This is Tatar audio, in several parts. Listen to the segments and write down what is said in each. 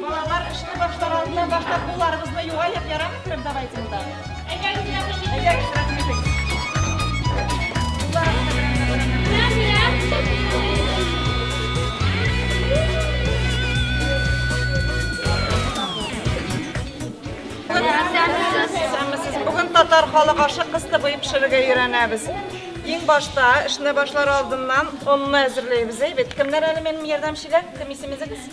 Балалар, эшне башлар алдыннан башлап, кулларыбызны юаеп, ярамы кереп давайте монда. Бүген татар халык ашы кысты буеп пешерергә өйрәнәбез. Иң башта эшне башлар алдыннан онны әзерләйбез, әйбәт. Кемнәр әле минем ярдәмчегә? Кем исемегез?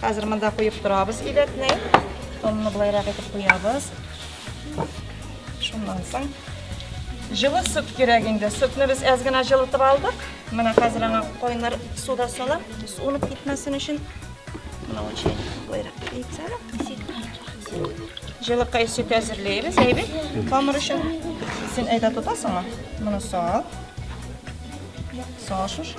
Хәзер монда куеп торабыз идәкне. Онны болайрак итеп куябыз. Шуннан соң җылы сөт кирәк инде. Сөтне без әз генә җылытып алдык. Менә хәзер аңа кайнар суда салам. Суынып китмәсен өчен. Менә ул чәй болайрак итсә. Җылыкай сөт әзерләйбез, әйбәт. Камыр өчен син әйдә тотасыңмы? Моны сал. Сал шушы.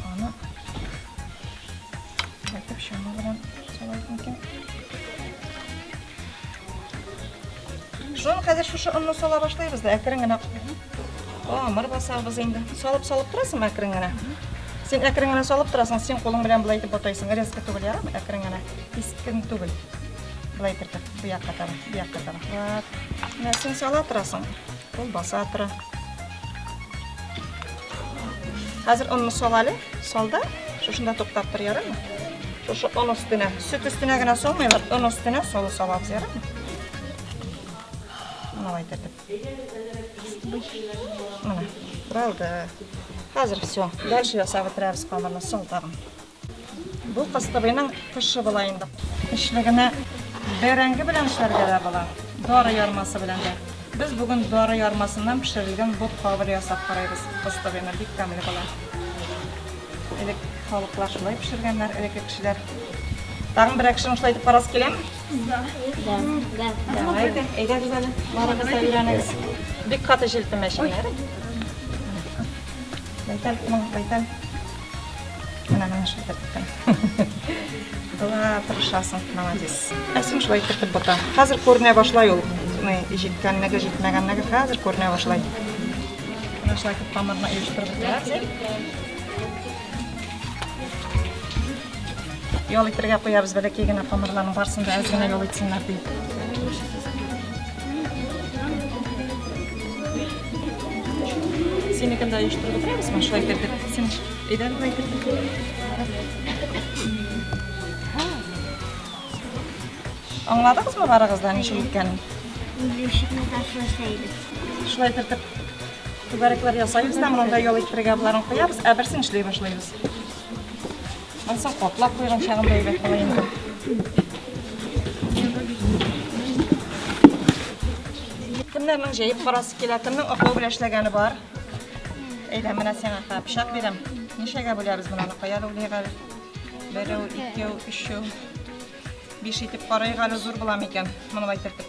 Аны әйтеп шама белән салайбыз микән? Шуны хәзер шушы онны сала башлыйбыз да, әкрен генә. Амыр басабыз инде. Салып салып торасың әкрен генә. Син әкрен генә салып торасың, син кулың белән булай итеп батайсың. Резко түгел, ярамы? Әкрен генә. Кискен түгел. Булай итеп, бу якка таба, бу якка таба. Вот. Менә син сала торасың. Колбаса атыры. Хәзер онны сал әле. Салда. Шушында туктап тор, ярымы? Шушы он өстенә. Сөт өстенә генә салмыйлар. Он өстенә солы салабыз, ярымы? Мына әйтәтеп. Мына, балды. Хәзер все. Дальше ясап бетерәбез камырны, сал тагын. Бу кыстыбыйның тышы була инде. Эчлегенә бәрәңге белән пешерергә дә була, дары ярмасы белән дә. Без бүген дары ярмасыннан пешерелгән ботка белән ясап карыйбыз кыстыбыйны. Бик тәмле була. Элек халыклар шулай пешергәннәр, элекке кешеләр. Тагын берәр кешене шулай итеп карасы киләме? Да. Да. Да. Давай, әйдәгез әле, барыгыз да өйрәнегез. Бик каты җилпемәчәннәр. Байтал, байтал. Менә менә шул тәртиптән. Була, тырышасың, молодец. Әсим шулай кертеп бота. Хәзер күренә башлай ул. Ни, җиткәнлеге, җитмәгәнлеге хәзер күренә башлай. Менә шулай итеп камырны оештырып бетерәбез. Ял итергә куябыз, бәләкәй генә камырларның барсын да әз генә ял итсеннәр дип. Синекен да оештырып утырабыз ма? Шулай кердек. Син әйдә болай кердек. Аңладыгызмы барыгыздан ничек икәнен? Ишекне ташласайбыз. Шулай кертеп түгәрәкләр ясайбыз да монда ял итәргә боларын куябыз, ә берсен эшли башлыйбыз. Ансаң каплап куйган чагында әйбәт була инде. Кемнәрнең җәеп карасы килә, кемнең аклау белән эшләгәне бар? Әйдә, менә сиңа ха, пычак бирәм. Ничәгә бүләбез монаны? Кая рулыйк әле? Берәү, икәү, өчәү. Биш итеп карыйк әле зур буламы икән? Моны әйтертеп.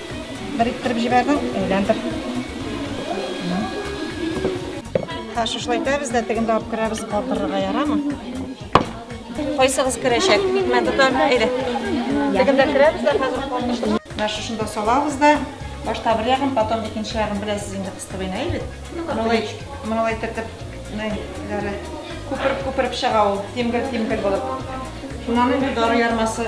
Бер иттереп җибәрдең, әйләндер. Ха, шушылай итәбез дә, тегендә алып керәбез, калтырырга ярамы? Кайсыгыз керәчәк? Мен тотам, әйдә. Тегендә керәбез дә, хәзер калтырышып. Менә шушында салабыз да, башта бер ягын, потом икенче ягын беләсез инде кыстыбый нәй бит. Мыналай, мыналай тертеп, нәйләре күпереп-күпереп чыга ул, тимгел-тимгел булып. Шуннан инде дары ярмасы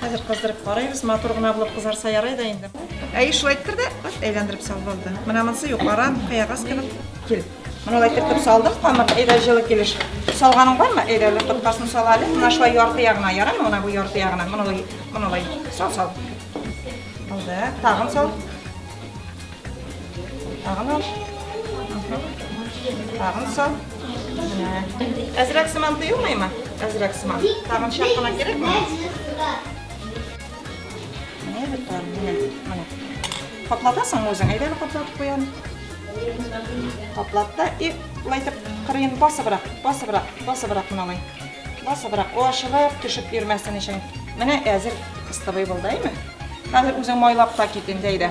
Хәзер кыздырып карыйбыз, матур гына булып кызарса ярый да инде. Әй, шулай иттерде, вот әйләндереп салып алды. Менә монысы юкара, кыягаз кебек. Кил. Менә алай итеп салдым, камыр, әйдә җылы килеш. Салганың бармы? Әйдә, әле тоткасын сал әле. Менә шулай ярты ягына, ярыймы? Менә бу ярты ягына. Менә алай, менә алай. Сал, сал. Алды, тагын сал. Тагын ал. Тагын сал. Әзрәк сыман тыйылмыймы? Әзрәк сыман. Тагын чак кына кирәкме? Менә бер тар. Менә. Каплатасыңмы үзең? Әйдә әле каплатып куям. Каплатта и лай итеп кырыен басыбрак, басыбрак, басыбрак мыналай. Басыбрак. О, ашылып төшеп йөрмәсен өчен. Менә әзер кыстыбый булды, әйме? Хәзер үзең майлап та кит инде, әйдә.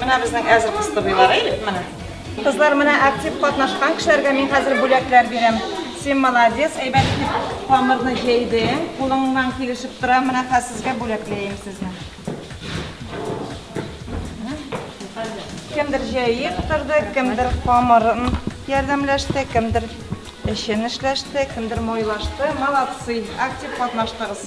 Менә безнең әзер кыстыбыйлар, әйдик менә. Кызлар менә актив катнашкан кешеләргә мин хәзер бүләкләр бирәм. Син молодец, әйбәт итеп камырны җәйдең, кулыңнан килешеп тора, менә хәзер сезгә бүләкләйем сезне. Кемдер җәеп торды, кемдер камырын ярдәмләште, кемдер эшен эшләште, кемдер мойлашты. Молодцы, актив катнаштыгыз.